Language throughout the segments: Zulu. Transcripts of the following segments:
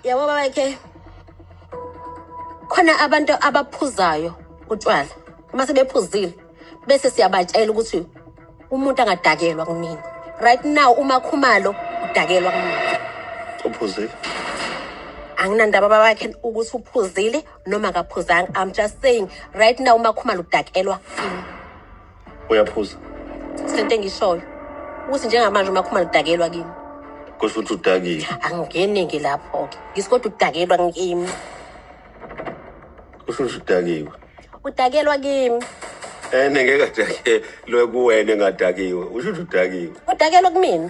yabo babakhe khona abantu abaphuzayo utshwala uma sebephuzile bese siyabatshela ukuthi umuntu angadakelwa kunini right now uma khumalo udakelwa kunini uphuzile anginandaba babakhe ukuthi uphuzile noma akaphuzanga i'm just saying right now uma khumalo udakelwa kunini uyaphuza sento engishoyo ukuthi njengamanje uma khumana udakelwa kimi kusho ukuthi udakile angingeneke lapho-ke ngisi kodwa udakelwa ngimi kusho ukuthi udakiwe udakelwa kimi ene ngeke adakelwe kuwena engadakiwe usho ukuthi udakiwe udakelwa kumina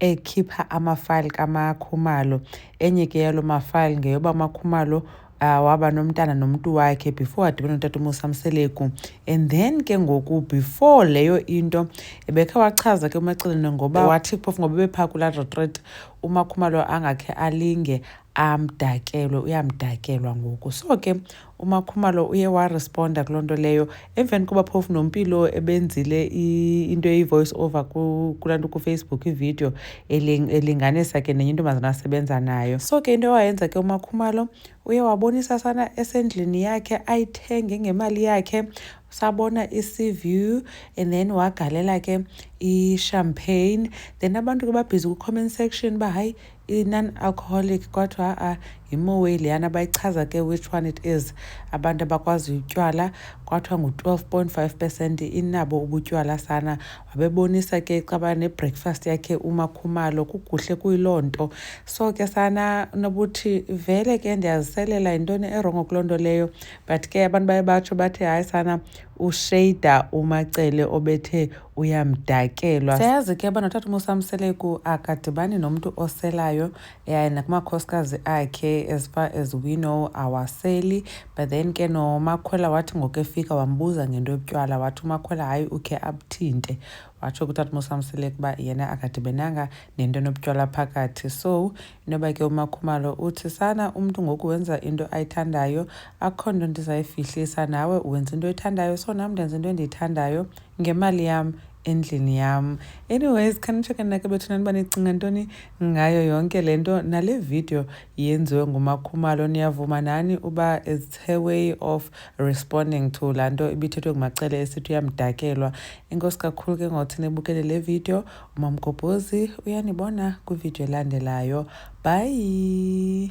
ekhipha amafayili kamakhumalo enye ke yalo mafayili ngeyoba amakhumalo uh, waba nomntana nomuntu wakhe before adibene notata umusa mseleku and then ke ngoku before leyo into ebekhe wachaza ke umacelene ngoba wathi phofu ngoba bephaa kulaa retreat umakhumalo angakhe alinge amdakelwe uyamdakelwa ngoku so ke uMakhumalo uye waresponda kuloo nto leyo emveni koba phofu nompilo ebenzile into eyi-voice over kulaa nto kufacebook ividiyo elinganisa ke nenye intombazana asebenza nayo so ke into ewayenza ke umakhumalo uye wabonisa sana esendlini yakhe ayithenge ngemali yakhe sabona i-sea view and then wagalela ke i-champagne then abantu ke babhizi ku-comment section uba hayi i-non-alcoholic kodwa ha-a yimowe leyana bayichaza ke which one it is abantu abakwaziyo utywala kwathiwa ngu-twelve point five percent inabo ubutywala sana wabebonisa ke caba ne-breakfast yakhe umakhumalo kukuhle kuyiloo nto so ke sana nobuthi vele ke ndiyaziselela yintoni erongo kuloo nto leyo but ke abantu baye batsho bathi hayi sana ushada umacele obethe uyamdakelwa siyayazi ke uba notata umusa mseleku akadibani nomntu oselayo yaye nakumakhosikazi akhe as far as we know awaseli but then ke nomakhwela wathi ngoku efika wambuza ngento yobutywala wathi umakhwela hayi ukhe abuthinte watsho kutata umusa mseleku uba yena akadibenanga nento enobutywala phakathi so inoba ke umakhumalo uthi sana umntu ngoku wenza into ayithandayo akukho nto ndizayifihlisa nawe wenza into oyithandayo so nam ndenza into endiyithandayo ngemali yam endlini yam anyways khanitsheke nake bethuna niba nicinga ntoni ngayo yonke le nto nale video yenziwe ngumakhumalo niyavuma nani uba it's her way of responding to laa nto ibithethwe ngumacele esithi uyamdakelwa inkosi kakhulu ke ngothi nibukele le video umamgobhozi uyanibona kwividiyo elandelayo bye